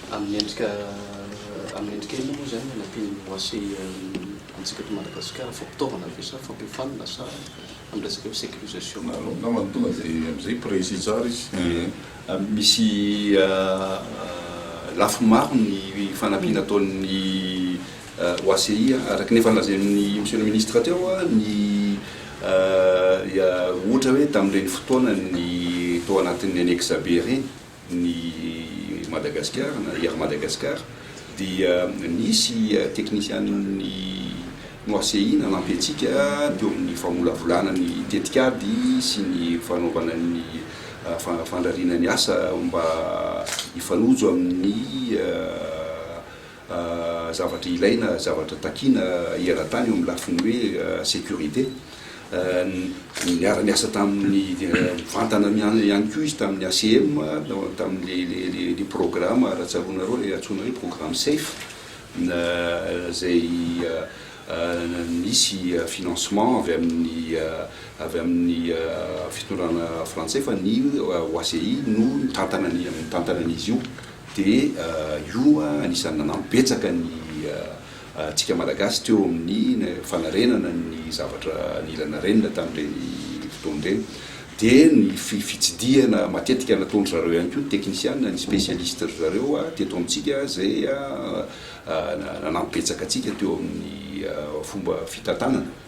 Amin'ny endrika amin'ny endrika inona moa izany ny anampian'ny OACI antsika eto Madagasikara? Fampitaovana ve sa fampiofanana sa amin'ny resaka hoe sécurisation? Angamba ny tonga dia amin'izay précis tsara izy. Misy lafiny maro ny fanampiana ataon'ny OACI. Araka ny efa nolazain'i Monsieur le Ministre teo, ny ohatra hoe tamin'ireny fotoana ny tao anatin'ny annexe B ireny, ny Madagascar na Air Madagascar dia nisy teknisian'ny Noasehi nanampy antsika teo amin'ny famolavolana ny tetikady sy ny fanaovana ny fandrariana ny asa mba hifanojo amin'ny zavatra ilaina, zavatra takiana eran-tany eo amin'ny lafiny hoe sécurité. Niara-niasa tamin'ny mivantana ihany koa izy tamin'ny ACM, tamin'ilay programa, raha tsaroanareo, ilay antsoina hoe programme safe, izay nisy financement avy amin'ny avy amin'ny fitondrana frantsay fa ny OACI no nitantana ny nitantana an'izy io. dia io anisan'ny nanampy betsaka ny antsika Malagasy teo amin'ny fanarenana ny zavatra nila narenina tamin'ireny fotoana ireny, dia ny fitsidihana matetika nataon-dry zareo ihany koa ny teknisiana, ny spécialiste-dry zareo teto amintsika izay nanampy betsaka antsika teo amin'ny fomba fitantanana.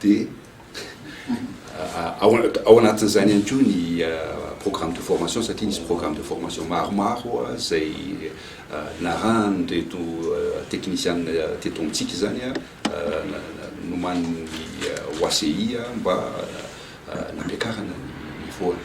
dia ao anatin'izany ihany koa ny programme de formation satria nisy programme de formation maromaro izay narahan'ireto teknisianina teto amintsika izany nomanin'ny OACI mba nampiakarana ny voany.